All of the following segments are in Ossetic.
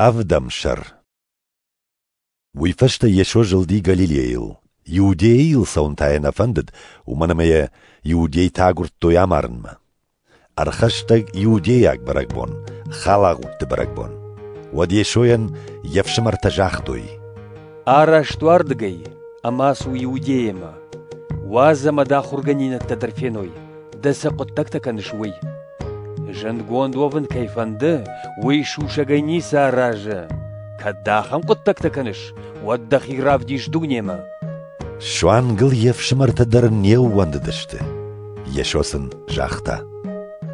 Ӕвдӕм сӕр Уый фӕстӕ Йесо зылди Галилейыл. Иудейы йыл цӕуын та йӕ нӕ фӕндыд, уымӕн ӕмӕ йӕ иудейтӕ агуырдтой амарынмӕ. Ӕрхӕстӕг иудейаг бӕрӕгбон, халагъудты бӕрӕгбон. Уӕд Йесойӕн йе фсымӕртӕ загътой: «Араст уӕ рдыгӕй ӕмӕ ацу Иудейӕмӕ. Уадз ӕмӕ дӕ ахуыргӕнинӕгтӕ дӕр феной, дӕ цы хъуыддӕгтӕ кӕныс, уый. Зындгонд уӕвын кӕй фӕнды, уый сусӕгӕй ницы аразы. Кӕд дӕ ахӕм хъуыддӕгтӕ кӕныс, уӕд дӕхи равдис дунемӕ. Суангыл йе фсымӕртӕ дӕр не ууӕндыдысты. Йесо сын загъта.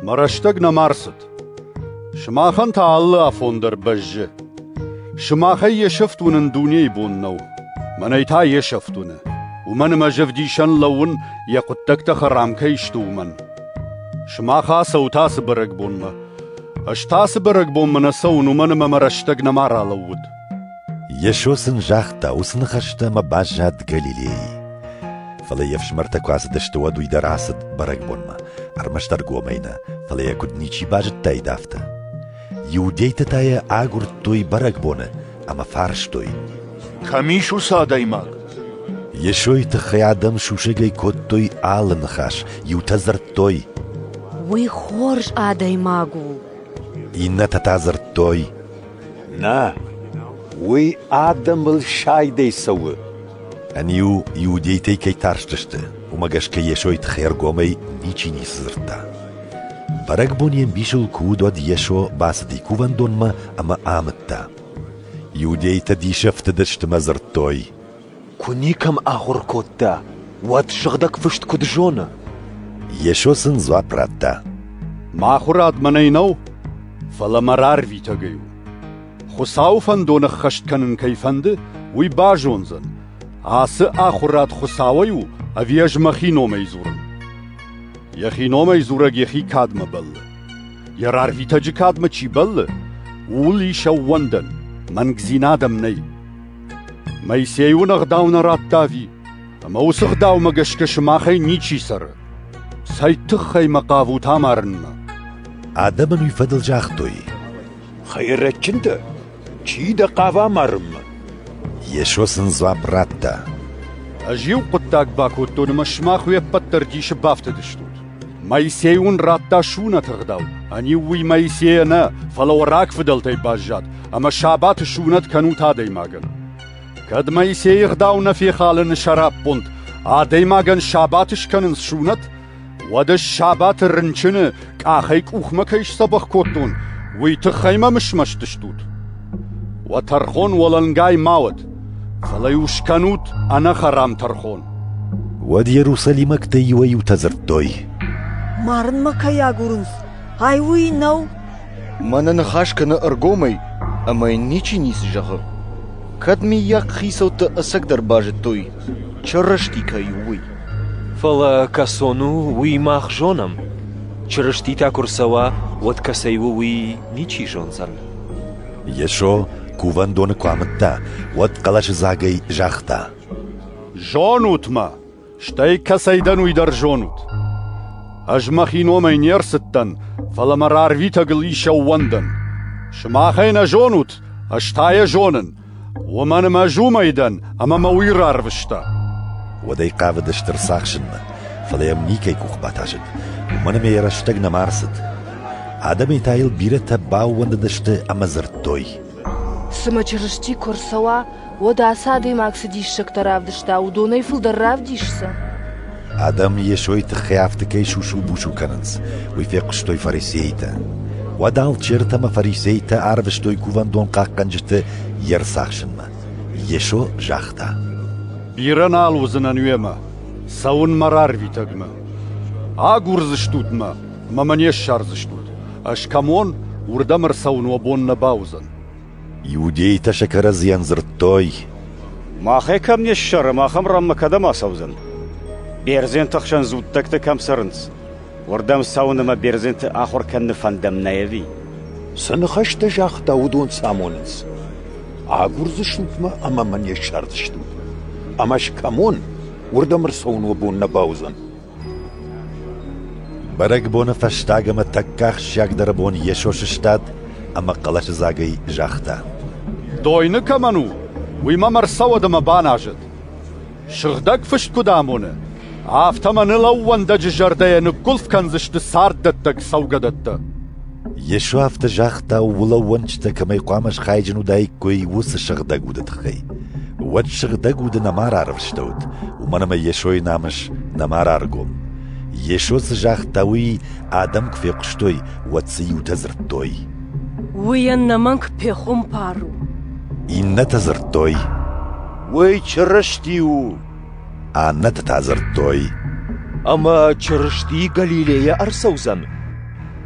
Мӕ рӕстӕг нӕма рцыд. Сымахӕн та алы афон дӕр бӕззы. Сымахӕй йе сӕфт уынын дунейы бон нӕу. Мӕнӕй та йе сӕфт уыны. Уымӕн ӕмӕ ӕз ӕвдисӕн лӕууын, йӕ хъуыддӕгтӕ хӕрам кӕй сты, уымӕн. Сымах ацӕут ацы бӕрӕгбонмӕ. Ӕз та ацы бӕрӕгбонмӕ нӕ цӕуын, уымӕн ӕмӕ мӕ рӕстӕг нӕма ралӕууыд. Йесо сын загъта уыцы ныхӕстӕ ӕмӕ баззад Галилейы. Фӕлӕ йе фсымӕртӕ куы ацыдысты, уӕд уый дӕр ацыд бӕрӕгбонмӕ, ӕрмӕстдӕр гомӕй нӕ, фӕлӕ йӕ куыд ничи базыдтаид, афтӕ. Иудейтӕ та йӕ агуырдтой бӕрӕгбоны ӕмӕ фарстой: Кӕм ис уыцы адӕймаг? Йесойы тыххӕй адӕм сусӕгӕй кодтой алы ныхас, иутӕ дзырдтой: Уый хорз адӕймаг у. Иннӕтӕ та дзырдтой: Нӕ, уый адӕмыл сайдӕй цӕуы. Ӕниу иудейтӕй кӕй тарстысты, уымӕ гӕсгӕ Йесойы тыхӕй ӕргомӕй ничи ницы дзырдта. Бӕрӕгбон йе мбисыл куы уыд, уӕд Йесо бацыди кувӕндонмӕ ӕмӕ амыдта. Иудейтӕ диссӕгты дыстымӕ дзырдтой: «Куы никӕм ахуыр кодта, уӕд Сыгъдӕг Фыст куыд зоны?» Йесо сын дзуапп радта: «Мӕ ахуырад мӕнӕй нӕу, фӕлӕ мӕ рарвитӕгӕй у. Хуыцауы фӕндон ӕххӕст кӕнын кӕй фӕнды, уый базондзӕн, ацы ахуырад Хуыцауӕй у, ӕви ӕз мӕхи номӕй дзурын?» Йӕхи номӕй дзурӕг йӕхи кадмӕ бӕллы. Йӕ рарвитӕджы кадмӕ чи бӕллы, ууыл ис ӕууӕндӕн, мӕнгдзинад ӕм нӕй. Моисей уын ӕгъдау нӕ радта ӕви? Ӕмӕ уыцы ӕгъдаумӕ гӕсгӕ сымахӕй ничи цӕры. Цӕй тыххӕй мӕ хъавут амарынмӕ? Адӕмӕн уый фӕдыл загътой: Хӕйрӕджджын дӕ? Чи дӕ хъавы амарынмӕ? Йесо сын дзуапп радта. Ӕз иу хъуыддаг бакодтон ӕмӕ сымах уе ппӕт дӕр дисы бафтыдыстут. Моисей уын радта суынӕты ӕгъдау. Ӕниу уый Моисейӕ нӕ, фӕлӕ уӕ рагфыдӕлтӕй баззад, ӕмӕ сабаты суынӕт кӕнут адӕймагӕн. Кӕд Моисейы ӕгъдау нӕ фехалыны сӕраппонд, адӕймагӕн сабат скӕнын суынӕт, Уӕдӕ сабаты рынчыны къахӕй къухмӕ кӕй сдзӕбӕх кодтон, уый тыххӕй мӕм смӕсты стут? Уӕ тӕрхон уӕлӕнгай ма уӕд, фӕлӕ-иу скӕнут ӕнӕхӕрам тӕрхон. Уӕд иерусалимӕгтӕ иуӕй-иутӕ дзырдтой. Марынмӕ кӕй агурынц, ай уый нӕу? Мӕнӕ ныхас кӕны ӕргомӕй, ӕмӕ йын ничи ницы зӕгъы. Кӕд миййаг хицӕуттӕ ӕцӕгдӕр базыдтой, Чырысти кӕй у, уый. Фӕлӕ кӕцон у, уый мах зонӕм. Чырыститӕ куы рцӕуа, уӕд кӕцӕй у, уый ничи зондзӕн. Йесо кувӕндоны куы амыдта, уӕд хъӕлӕсыдзагӕй загъта: «Зонут мӕ, стӕй кӕцӕй дӕн, уый дӕр зонут. Ӕз мӕхи номӕй не рцыдтӕн, фӕлӕ мӕ рарвитӕгыл ис ӕууӕндӕн. Сымахӕй нӕ зонут, ӕз та йӕ зонын, Уымӕн ӕмӕ ӕз уымӕй дӕн, ӕмӕ мӕ уый рарвыста. Уӕдӕй хъавыд стыр цахсынмӕ, фӕлӕ йӕм никӕй къух батасыд, уымӕн ӕмӕ йӕ рӕстӕг нӕма ӕрцыд. Адӕмӕй та йыл бирӕтӕ баууӕндыдысты ӕмӕ дзырдтой. Цымӕ Чырысти куы ӕрцӕуа, уӕд ацы адӕймаг цы диссӕгтӕ равдыста, уыдонӕй фылдӕр равдисдзӕн? Адӕм Йесойы тыххӕй афтӕ кӕй сусу-бусу кӕнынц, уый фехъуыстой фарисейтӕ. Уӕд алчертӕ ӕмӕ фарисейтӕ арвыстой кувӕндон хъахъхъӕнджыты йе рцахсынмӕ. Йесо загъта: «Бирӕ нал уыдзынӕн уемӕ, цӕуынмӕ рарвитӕгмӕ. Агурдзыстут мӕ, мӕ мӕ не ссардзыстут. Ӕз кӕм уон, уырдӕм ӕрцӕуын уӕ бон нӕ бауыдзӕн». Иудейтӕ сӕ кӕрӕдзийӕн дзырдтой: «Махӕ кӕм не ссарӕм, ахӕм ранмӕ кӕдӕм ацӕудзӕн? Бердзенты хсӕн дзуттӕгтӕ кӕм цӕрынц, уырдӕм цӕуын ӕмӕ бердзенты ахуыр кӕныны фӕндӕм нӕй ӕви?» Цы ныхӕстӕ загъта, уыдон цы амонынц? Агурдзыстут-мӕ ӕмӕ мӕ не ссардзыстут. Ӕмӕ скӕмон, уырдӕм ӕрцӕуын уӕ бон нӕ бауыдзӕн. Бӕрӕгбоны фӕстаг ӕмӕ тӕккӕ ахсджиагдӕр бон Йесо сыстад ӕмӕ хъӕлӕсыдзагӕй загъта: «Дойны кӕмӕн у, уый мӕм ӕрцӕуӕд ӕмӕ баназӕд. Сыгъдӕг Фыст куыд амоны, афтӕ мӕ ныл ӕууӕндӕджы зӕрдӕйӕ ныггуылф кӕндзысты царддӕттӕг цӕугӕдӕттӕ». Йесо афтӕ загъта, улӕууӕнчытӕ кӕмӕй хъуамӕ схайджын уыдаиккой, уыцы сыгъдӕг уды тыххӕй. Уӕд сыгъдӕг уды нӕма рарвыстӕуыд, уымӕн ӕмӕ Йесойы намыс нӕма раргом. Йесо цы загъта, уый адӕм куы фехъуыстой, уӕд цы дзырдтой? «Уый ӕнӕмӕнг пехуымпар у». Иннӕтӕ дзырдтой. «Уый Чырысти у». Аннӕтӕ та дзырдтой: Ӕмӕ Чырысти Галилейӕ ӕрцӕудзӕн?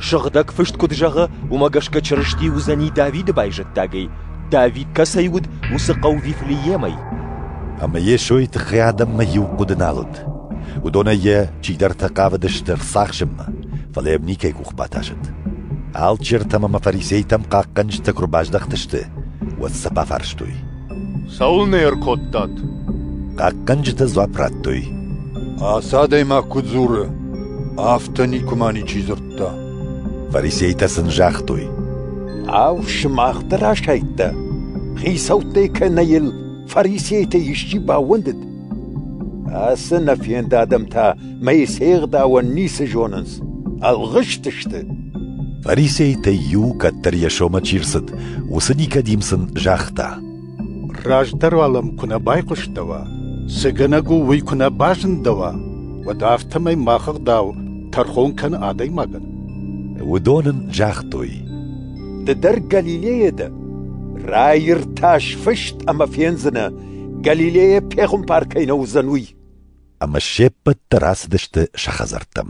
Сыгъдӕг Фыст куыд зӕгъы, уымӕ гӕсгӕ Чырысти уыдзӕни Давиды байзӕддагӕй, Давид кӕцӕй уыд, уыцы хъӕу Вифлеемӕй. Ӕмӕ Йесойы тыххӕй адӕммӕ иу хъуыды нал уыд. Уыдонӕй йӕ чидӕртӕ хъавыдысты ӕрцахсынмӕ, фӕлӕ йӕм никӕй къух батасыд. Алчертӕм ӕмӕ фарисейтӕм хъахъхъӕнджытӕ куы рбаздӕхтысты, уӕд сӕ бафарстой: Цӕуылнӕ ӕркодтат? Хъахъхъӕнджытӕ дзуапп радтой. Ацы адӕймаг куыд дзуры, афтӕ никуы ма ничи дзырдта. Фарисейтӕ сын загътой. Ау, сымах дӕр асайдта? Хицӕуттӕй кӕнӕ йыл фарисейтӕ исчи баууӕндыд? Ацы нӕ фенд адӕм та Мои се гъдауӕн ницы зонынц, ӕлгъыстысты. Фарисейтӕй иу, кӕддӕр йӕ сомӕ чи рцыд, уыцы Никодим сын загъта. Раздӕр уал ӕм куы нӕ байхъуыстӕуа, цы гӕнӕг у уый куы нӕ базындӕуа, уӕд афтӕмӕй мах ӕгъдау тӕрхон кӕны адӕймагӕн. Уыдон ын загътой. Ды дӕр Галилейӕ дӕ? Раиртас фыст ӕмӕ фендзынӕ, Галилейӕ пехуымпар кӕй нӕ уыдзӕн, уый. ӕмӕ се ппӕт дӕр ацыдысты сӕ хӕдзӕрттӕм.